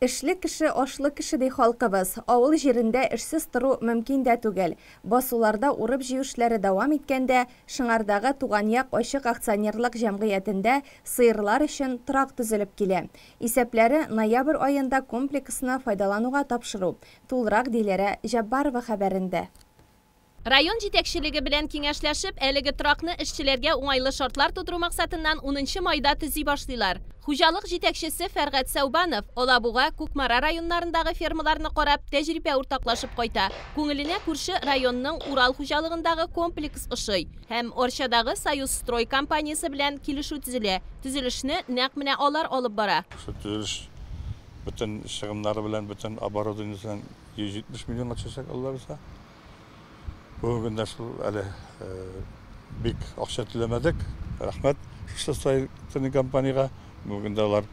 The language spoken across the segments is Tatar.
Эшле кеше, ашлы кеше ди халкыбыз. Авыл җирендә эшсез тору мөмкин дә түгел. Басуларда урып-җыю эшләре дәвам иткәндә, Шыңардагы Туган як ачык акционерлык җәмгыятендә сыерлар өчен торак төзелеп килә. Исәпләре, ноябрь аенда комплексны файдалануга тапшыру, тулырак, ди Ләрә Җаббарова хәбәрендә. Район җитәкчелеге белән киңәшләшеп, әлеге торакны эшчеләргә уңайлы шартлар тудыру максатыннан унынчы майда төзи башлыйлар. Хуҗалык җитәкчесе Фәргать Сәүбанов, Алабуга, Кукмара районнарындагы фермаларны карап, тәҗрибә уртаклашып кайта. Күңеленә күрше районның Урал хуҗалыгындагы комплекс ошый һәм Арчадагы Союзстрой компаниясе белән килешү төзелә. Төзелешне нәкъ менә алар алып бара. Шул төзелеш бөтен чыгымнары белән, бөтен оборудованиесе белән 170 миллионга төшәчәк, Алла бирсә. Бүгенге көндә шул әле бик акча түләмәдек. Рәхмәт шушы строительный компаниягә. Бүгенге көндә алар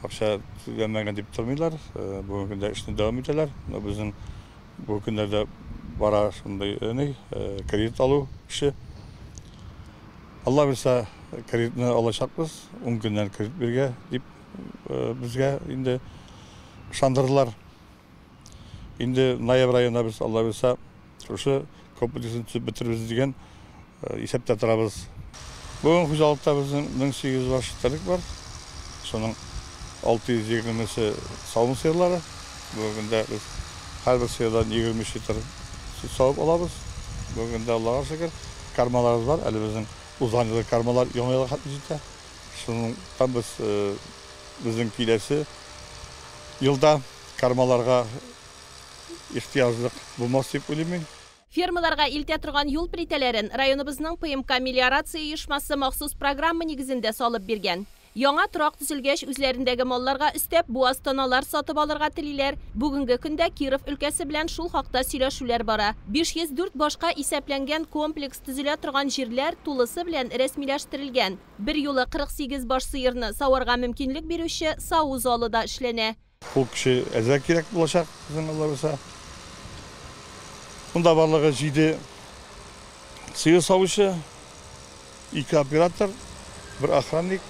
акча түләмәгән дип тормыйлар. Бүгенге көндә эшне дәвам итәләр. Менә безнең бу көннәрдә бара шундый ни, кредит алу эше. Алла бирсә, кредитны алачакбыз. Ун көннән кредит бирергә дип безгә инде ышандырдылар. Инде ноябрь аена без Алла буйса шушы комплексын төзеп бетерербез дигән исәптә торабыз. Бүген хуҗалыкта безнең 1800 баш терлек бар. Шуның 620-се савым сыерлары. Бүгенге көндә без һәрбер сыердан 23 литр сөт савып алабыз. Бүгенге көндә Аллага шөкер, кармаларыбыз бар. Әле безнең узган елгы кармалар яңа елга хәтле җитә. Шуннан без Безнең киләсе елда кармаларга ихтыяҗлык булмас дип уйлыйм мин. Фермаларга илтә торган юл плитәләрен районыбызның ПМК мелиорация оешмасы махсус программа нигезендә салып биргән. Яңа торак төзелгәч, үзләрендәге малларга өстәп, буаз тоналар сатып алырга телиләр. Бүгенге көндә Киров өлкәсе белән шул хакта сөйләшүләр бара. 504 башка исәпләнгән комплекс төзелә торган җирләр тулысы белән рәсмиләштерелгән. Берьюлы 48 баш сыерны саварга мөмкинлек бирүче саву залы да эшләнә. Ул кеше әзрәк кирәк булачак безнең аллабуса. Монда барлыгы җиде сыер савучы, ике оператор, бер охранник,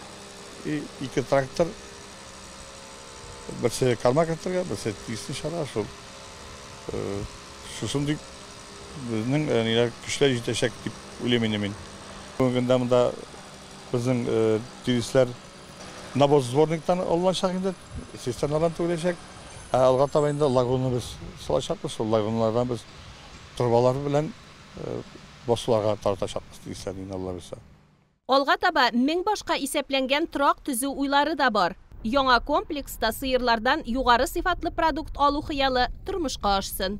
ике трактор, берсе корма кертергә, берсе тиешле чара, шул шусын дип. Безнең әниләр көчләр җитәчәк дип уйлыйм инде мин. Бүгенге көндә монда безнең тирисләр навоз сборниктан алыначак инде, цистерналардан түгеләчәк. Ә алга таба инде лагунны без салачакбыз, шул лагуннардан без торбалар белән басуларга таратачакбыз тирисләрне инде Алла боерса. Алга таба мең башка исәпләнгән торак төзү уйлары да бар. Яңа комплекста сыерлардан югары сыйфатлы продукт алу хыялы тормышка ашсын.